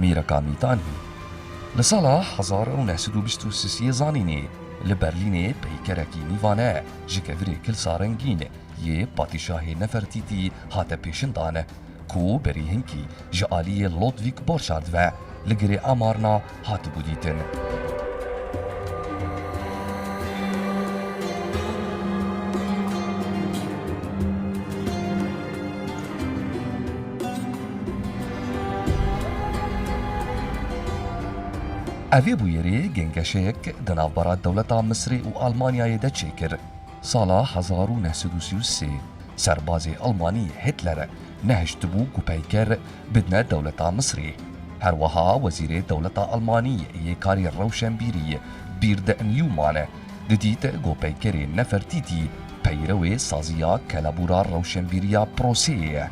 Mîreka Mîtanî li sala hezar û neh sed û bîst û sisê zanînê li Berlînê peykerekî nîvane ji kevirê Kilsa Rengîn yê Patîşahê Nefertîtî hate pêşindan ku berî hinkî ji aliyê Lodwîg Borşard ve li girê Amarna hatibû dîtin. Ev ê bûyerê gengeşeyek di navbera dewleta Misirê û Almanyayê de çêkir. Sala hezar û neh sed û sî û sê serbazê Almanî Hitler nehiştibû ku peyker bidine dewleta Misirê. Herweha wezîrê dewleta Almanî yê karê rewşenbîrî Bird Newman Didît ku peykerê Nefertîtî peyrewê saziya kelebûra rewşenbîriya proseyê ye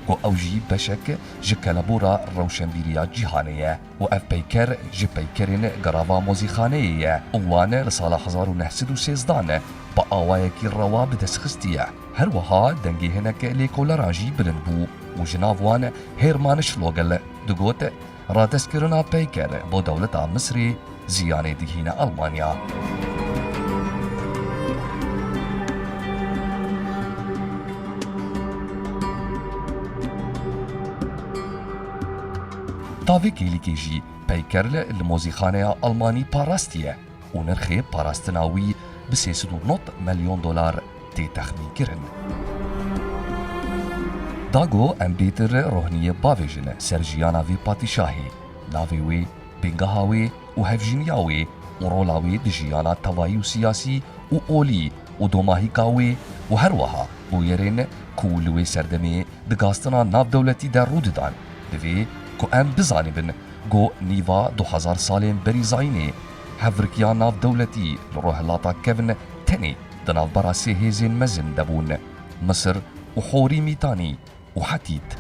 ku ew jî beşek ji kelebûra rewşenbîriya cîhanê ye û ev peyker ji peykerên Garava Mozîxaneyê ye û wan li sala hezar û neh sed û sêzdan bi awayekî rewa bi dest xistiye. Her wiha dengê hinek lêkoleran jî bilind bû û ji nav wan Hêrmanş Logel digot, Radestkirina peyker bo dewleta Misrê ziyanê digihîne Almanya. Tavê kêlikê jî peyker li mozîxaneya Almanî parastiye. û nirxê parastina wî bi sê sed û nod milyon dolar tê texmînkirin. Dago em bêtir rohniyê bavêjin ser jiyana vê patîşahê, navê wê, bêngeha wê û hevjîniya wê û rola wê di jiyana tevayî û siyasî û olî û domahîka wê û herweha bûyerên ku li wê serdemê di gastina navdewletî de rû didan, divê ku em bizanibin ku nîva du hezar salên berî zayînê hevrikya navdewletî li Rojhilata Kevn tenê di navbera sê hêzên mezin de bûn, Misir û Horî Mîtanî û Hetît.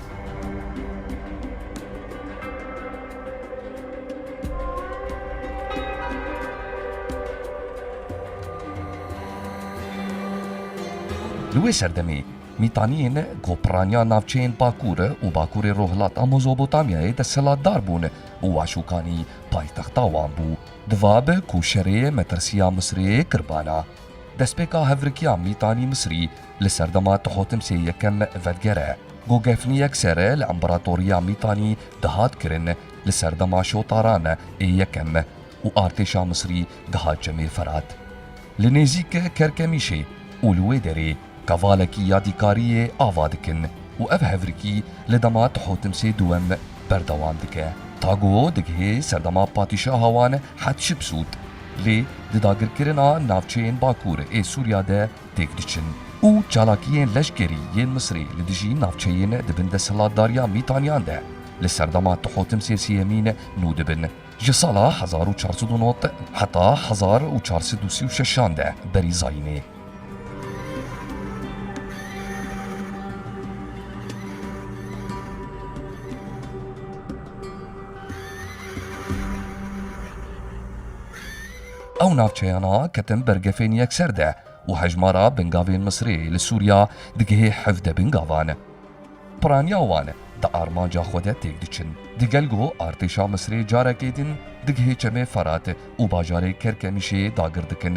Li wê serdemê Mîtaniyên ku piraniya navçeyên Bakur û Bakurê Rojhilata Mozobotamyayê desthilatdar bûn û Waşûkanî paytexta wan bû. Di va bi ku şerê metirsiya Misirê kir bala. Destpêka hevrikiya Mîtanî Misirî li serdema Tuhotimsê Yekem Vedger e. Gogefnî yekser li Împaratoriya Mîtanî dihat kirin li serdema Şotaran ê Yekem û artêşa Misirî dihat Cemê Ferat li nêzîk Kerkemîşê û li wê derê Kevalekî yadîkariyê ava dikin û ev hevrikî li dema Tuhotimsê Duwem berdewam dike. Taguo digihê serdema patîşaha wan Hetşipsût lê di dagirkirina navçeyên Bakur ê Sûriya de têk diçin û çalakiyên leşkerî yên Misrê li dijî navçeyên di bin desthilatdariya Mîtanyan de li serdema Tuhotimsê Sêyemîn nû dibin. Ji sala hezar û çar sed û nod heta hezar û çar sed û sî û şeş an de berî zayînê. Ew navçeyana ketin bergefên yekser de û hejmara bingavên Misrê li Sûriya digihê hevde bingavan. Piraniya wan di armanca xwe de têk diçin. Di gel ku artêşa Misrê carekê din digihê çemê Ferat û bajarê Kerkemîşê dagir dikin,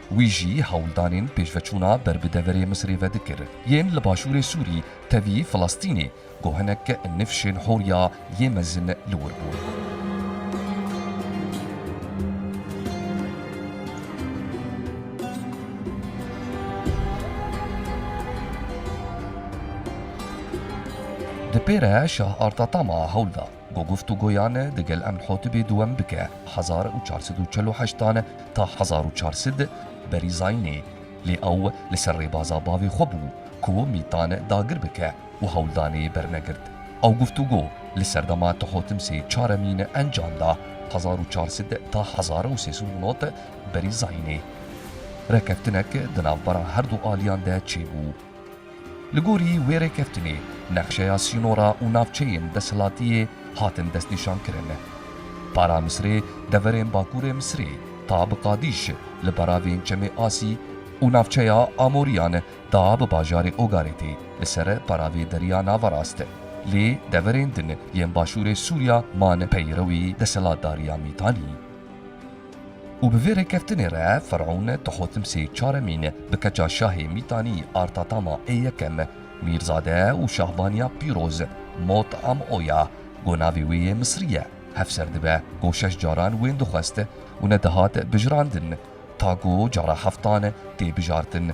Wî jî hewldanên pêşveçûna ber bi deverê Misirê ve dikir, yên li başûrê Sûrî, tevî Filistînê, ku hinek nifşên Horya yê mezin li wir bûn. Di pê re Şah Artatama hewl da. Bi guftûgoyan e digel Emnhotibê dûem bike hezar û çar sed û çel û heşt dan ta hezar û çar sed berî zayînê lê ew li ser rêbaza bavê xwe bû ku mîtan dagir bike û hewldanê bernegirt. Ew guftûgo li serdema Tihotimsê Çaremîn encam da hezar û çar sed ta hezar û sê sed û nod berî zayînê. Rekeftinek di navbera her du aliyan de çêbû. Li gorî wê rêkeftinê nexşeya sînora û navçeyên desthilatiyê hatin destnîşankirin. Para Misirê deverên Bakurê Misirê ta bi Qadîş li beravên Çemê Asî û navçeya Amorîyan ta bi bajarê Ogarêtê li ser peravê Deriya Naverast lê deverên din yên başûrê Sûriya man peyrewî desthilatdariya Mîtanî. Û bi vê rêkeftinê re Ferûn Tuhotmsê Çaremîn bi keça şahê Mîtanî Artatama ê Yekem, Mîrzade û Şahbaniya Pîroz, Mot am oya, ku navê wê yê Misrî ye, hevser dibe, ku şeş caran wên dixwest û nedihat bijirandin, ta ku cara heftan tê bijartin.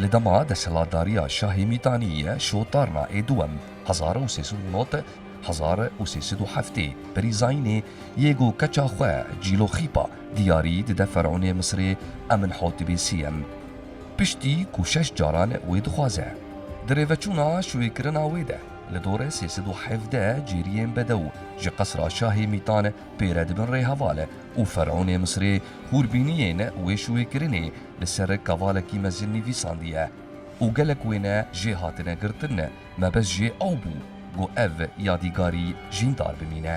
Li dema desthilatdariya Şahê Mîtanî ye Şotarna ê Duwem, hezar û sê sed û nod, hezar û sê sed û heftê, berî Zayînê yê ku keça xwe Cîlo Xîpa diyarî dide Ferûnê Misirê Eminhotibê Sêyem, piştî ku şeş caran wê dixwaze. Di rêveçûna şûêkirina wê de li dorê sê sed û hevdeh cêriyên bedew ji qesra Şahê Mîtan pêre dibin rê heval û ferûnê Misirê hûrbîniyên wêşwêkirinê li ser kavalekî mezin nivîsandiye û gelek wêne jê hatine girtin, mebes jê ew bû ku ev yadîgarî jîndar bimîne.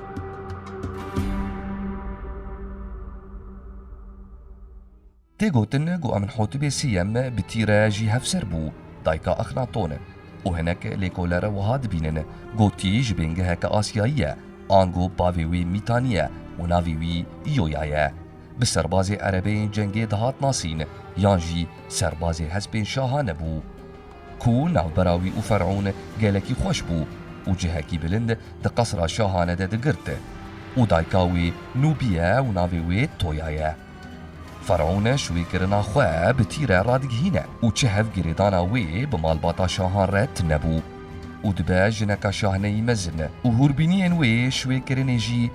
Tê gotin ku Amenhotibê Sêyem bi tîre jî hevser bû, dayka Exnaton e û hinek lêkolere wiha dibînin ku tî ji bêngeheke Asyayî ye ango bavê wî Mîtanî ye û navê wî Îyoya ye. Bi serbazê erebeyên cengê dihat nasîn yan jî serbazê hespên şaha nebû. Ku navbera wî û Ferûn gelekî xweş bû û cihekî bilind di qesra şahane de digirt. Û dayika wê Nûbî ye û navê wê Toya ye. Ferûn şûyê kirina xwe bi tîre radigihîne û çi hev girêdana wê bi malbata şahan re tine bû û dibe jineka şahneyî mezin û hûrbîniyên wê şûyê kirinê jî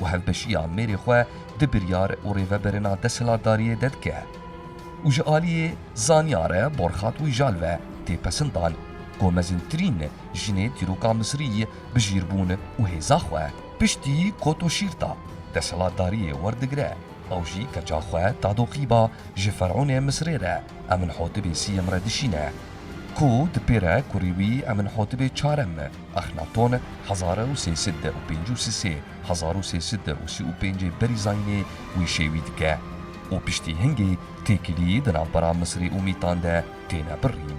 û hevbeşiya mêrê xwe di biryar û rêveberina desthilatdariyê de dike û ji aliyê zanyare Borxat Wijal ve tê pesindan ku mezintirîn jinê dîroka Misirî bi jîrbûn û hêza xwe piştî kotoşîrta desthilatdariyê werdigire ew jî keça xwe dadoqîba ji Ferûnê Misirê re Eminhotibê Sîyem re dişîne ku di pêre kurî wî Eminhotibê Çarem Exnatone hezare û sê sed de û pênc û sisê hezar û sê sed de û sî û pêncê berî zayînê wî şêwî dike û piştî hingê têkilî di navbera Misirê û Mîtan de têne birîn.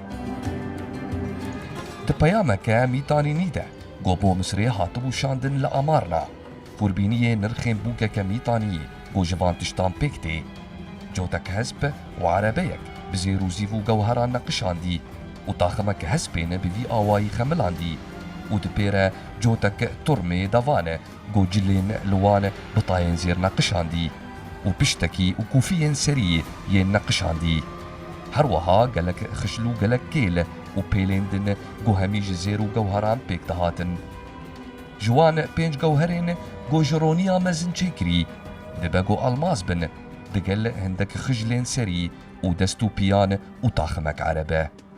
Di peyameke mîtanînî de ku bo Misirê hatibû şandin li Amarna, xûrbîniyê nirxên bûkeke mîtanîyî ku ji van tiştan pêk tê. Cotek hesp û erebeyek bi zêr û zîv û gewheran neqişandî û taximeke hespên bi vî awayî xemilandî û di pê re cotek turmê devan Ku cilên li wan bi tayên zêr neqişandî û piştekî û kûfiyên serî yên neqişandî. Her weha gelek xişl û gelek kêl û pêlên din ku hemî ji zêr û gewheran pêk dihatin. Ji wan pênc gewherên ku ji roniya mezin çêkirî dibe ku elmas bin, digel hindek xijlên serî û dest û piyan û taximek erebe.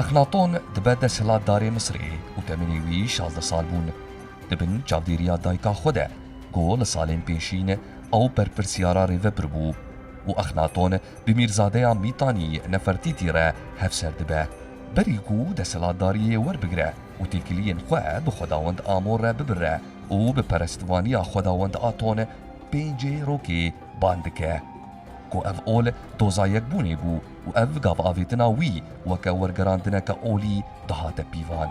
Eflatûn dibe desthilatdarê Misirê û temenê wî şazdeh sal bûn. Di bin çavdêriya dayika xwe de ku li salên pêşîn ew berpirsyara rêvebir bû û Exnatûn bi mîrzadeya Mîtanî Nefertîtî re hevser dibe. Berî ku desthilatdariyê werbigire û têkiliyên xwe bi xwedawend Amon re bibire û bi perestvaniya xwedawend Aton, pêncê rokê, bang dike ku ev ol doza yekbûnê bû û ev gavavêtina wî weke wergerandineke olî dihate pîvan.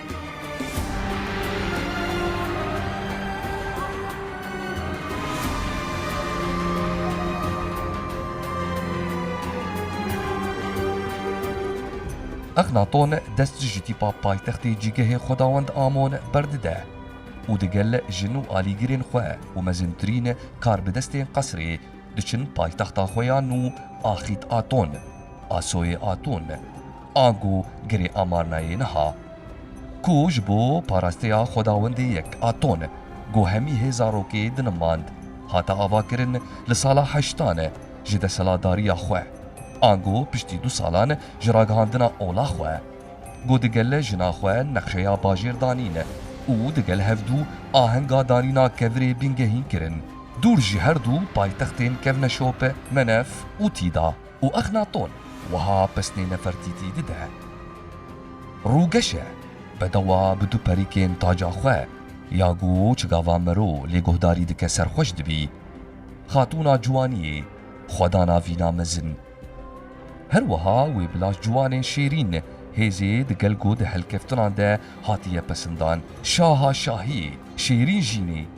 Exnaton dest ji tîpa paytextê cîgehê xwedawend Amon berdide û di gel jin û alîgirên xwe û mezintirîn karbidestên qesrê diçin paytexta xwe ya nû Axît Aton, Asoyê Aton, Anku girê amarnayê niha ku ji bo parasteya Xwedawendê yek a ton ku hemî hê zarokê dinimand, hate avakirin li sala heştan ji desthilatdariya xwe, anku piştî du salan ji ragihandina ola xwe ku digel jina xwe nexşeya bajêr danîn û digel hevdu ahenga danîna kevirê bingehîn kirin, dûr ji herdu paytextên kevne şop, Menef û Tîda. û Exnaton wiha pesnê nefertîtî dide, Rûgeşe bedewa bi du perîkên taca xwe ya ku çigava mero lê guhdarî dike serxweş dibî. Xatûna ciwaniyê, xwedana vîna mezin. Her wiha wê bi laş ciwanên şêrîn hêzê di gel ku di helkeftinan de hatiye pesindan. Şaha şahiyê, şêrîn jînê.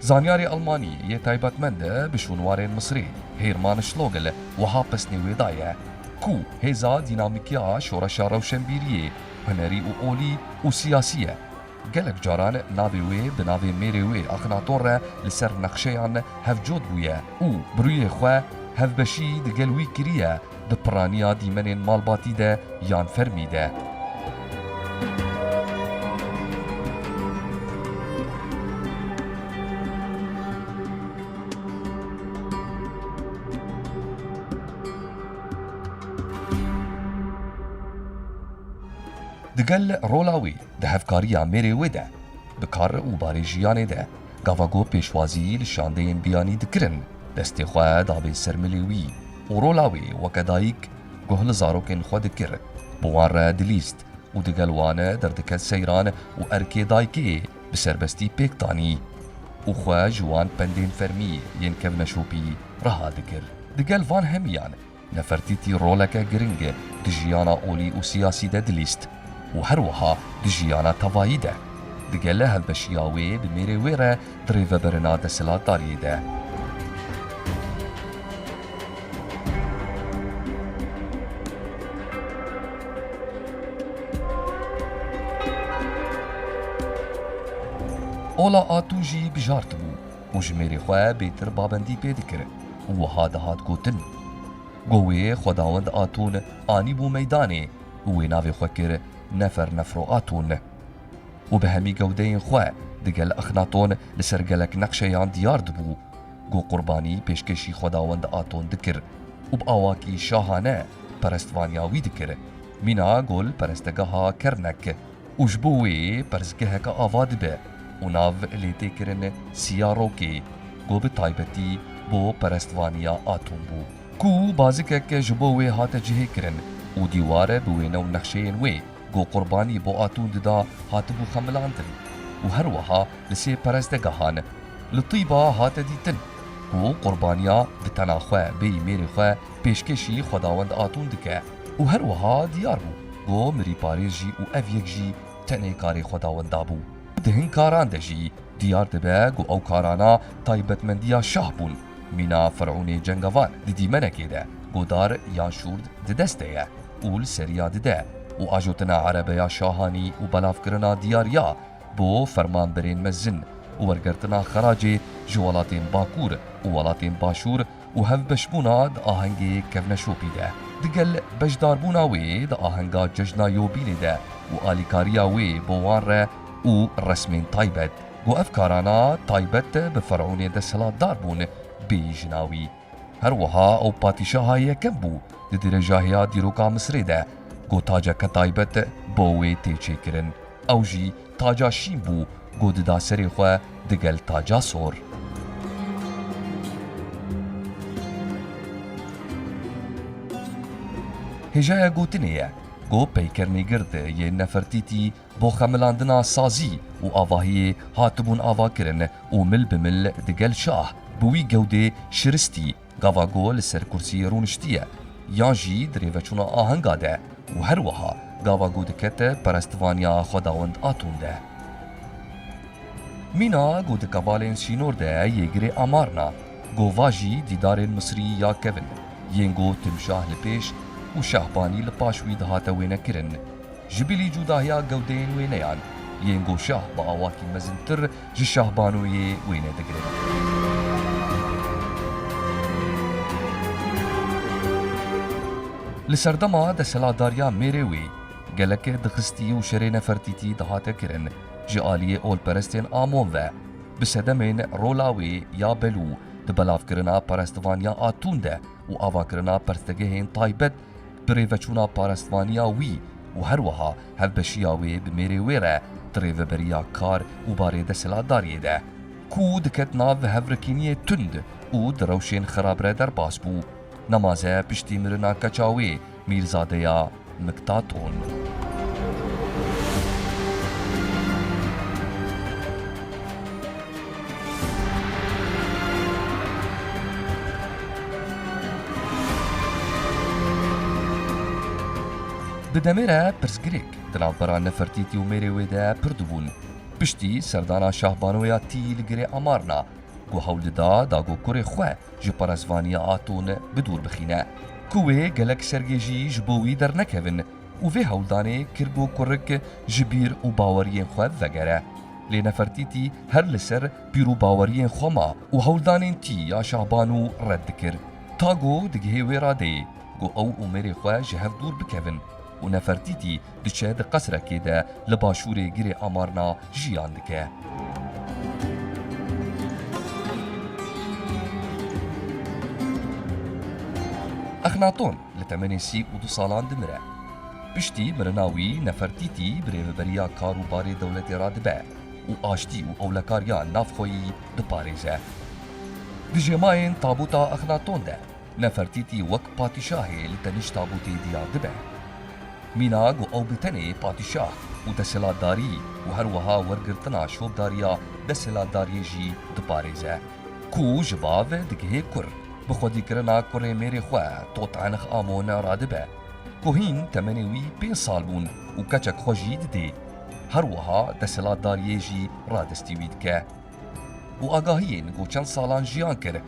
Zanyarê Elmanî yê taybetmend bi şûnwarên Misrê, Hêrman Şlogl wiha pesnê wê daye, Ku hêza dînamîk ya şoreşa rewşenbîriyê, hunerî û olî û siyasî ye. Gelek caran navê wê bi navê mêrê wê Axnaton re li ser nexşeyan hevcot bûye û bi rûyê xwe hevbeşî di gel wî kiriye, di piraniya dîmenên malbatî de yan fermî de. Digel rola wî di hevkariya mêrê wê de, bi kar û barê jiyanê de, Gava ku pêşwazî li şandeyên biyanî dikirin, destê xwe dabê ser milê wî û rola wê weke dayik guh li zarokên xwe dikir, bi wan re dilîst û di gel wan derdikett seyran û erkê dayikê bi serbestî pêk danî û xwe ji wan pendên fermî yên kevneşopî reha dikir. Di gel van hemiyan, Nefertîtî roleke giring e di jiyana olî û siyasî de dilîst û her wiha di jiyana tevayî de. Digele hevbeşiya wê bi mêrê wê re di rêveberina desthilatdariyê de. Ola Atû jî bijartibû. û ji mêrê xwe bêtir babendî pê dikir û wiha dihat gotin, Go wê xwedawend a ton anîbû meydanê û wê navê xwe kir Nefer Nefro a ton. Û bi hemî gewdeyên xwe digel Axnaton li ser gelek neqşeyan diyar dibû. Go qurbanî pêşkêşî xwedawend a ton dikir û bi awakî şahane perestvaniya wî dikir. Mîna go li perestegeha Kernek. û ji bo wê perzgeheke ava dibe û nav lê tê kirin Siya Rokê ku bi taybetî bo perestvanîya atom bû ku bazikek ji bo wê hate cihê kirin û dîwar bi wêne û nexşeyên wê ku qurbanî bo atûn dida hatibû xemilandin û her weha li sê perestgehan li Tîba hate dîtin ku qurbanîya bi tena xwe bêyî mêrê xwe pêşkêşî xwedawend atûn dike. Û her wiha diyar bû ku mirî parêzjî û ev yek jî tenê karê Xwedawenda bû. Di hin karan de jî diyar dibe ku ew karana taybetmendiya şah bûn. Mîna Firûnê cengevar di dîmenekê de godar yan şûrd di dest de ye û li seriya dide û ajotina erebeya şahanî û belavkirina diyariya bo fermanberên mezin û wergirtina xeracê ji welatên Bakur û welatên Başûr û hevbeşbûna di ahengê kevneşopî de, digel beşdarbûna wê di ahenga cejna Yobînê de û alîkariya wê bo wan re û resmên taybet, ku ev karana taybet bi ferûnê desthilatdar bûn, bê jina wî. Her wiha ew patîşaha yekem bû di dirêjahiya dîroka Misirê de, ku taceke taybet bo wê tê çêkirin, ew jî Taca şîn bû go dida serê xwe digel taca sor. Hêjaya gotinê ye go peyker nêgird yê Nefertîtî bo xemilandina sazî û avahiyê hatibûn avakirin û mil bi mil digel şah bi wî gewdê şiristî Gava go li ser kursiyê rûniştiye yan jî di rêveçûna ahenga de û her wiha gava go dikete perestvaniya Xwedawend a tund de. Mîna go di kevalên sînor de yê girê Amarna, gova jî dîdarên Misirî ya kevin yên go Timşah li pêş û Şahbanî li paş wî dihate wênekirin. Ji bilî cûdahiya gewdeyên wêneyan, yên go Şah bi awakî mezintir ji Şahbanoyê wêne digirin. Li serdema desthilatdariya mêrê wê gelek dixistî û şerê nefertîtî dihate kirin ji aliyê olperestên Amon ve, bi sedemên rola wê ya Belû di belavkirina perestvanîya a tund e û avakirina perstegehên taybet bi rêveçûna parestvanîya wî û herweha Hevbeşiya wê bi mêrê wê re di rêveberiya kar û barê desthilatdariyê de ku diket nav hevrikîniyê tund û di rewşên xerab re derbas bû, nemaze piştî mirina keça wê Mîrzadeya Miktaton. Di demê re pirsgirêk di navbera Nefertîtî û mêrê wê de pir dibûn. Piştî serdana Şahbano ya tî li girê Amarna ku hewl dida dagokurê xwe ji parastvaniya Aton bi dûr bixîne ku wê gelek sergêjî ji bo wî dernekevin û vê hewldanê kir ku kurik ji bîr û baweriyên xwe vegere. Lê Nefertîtî her li ser bîr û baweriyên xwe ma û hewldanên tî ya Şahbano red dikir. Tago digihê wê radeyê. ku ew û mêrê xwe ji hev dûr bikevin û Nefertîtî diçe di qesrekê de li başûrê girê Amarna jiyan dike. Exnaton li temenê sî û du salan dimire. Piştî mirina wî Nefertîtî birêveberiya kar û barê dewletê re dibe û aştî û ewlekariya navxweyî diparêze. Di jêmayên tabûta Exnaton de Nefertîtî wek patîşahê li teniş tabûtê diyar dibe. Mîna ku ew bi tenê patîşah û desthilatdarî û her wiha wergirtina şopdariya desthilatdariyê jî diparêze. Ku ji bav digihê kur, bi xwedîkirina kurê mêrê xwe Totanx Amon radibe. Ku hîn temenê wî pênc sal bûn û keçek xwe jî didê. Her wiha desthilatdariyê jî radestî wî dike. Û agahiyên ku çend salan jiyan kir,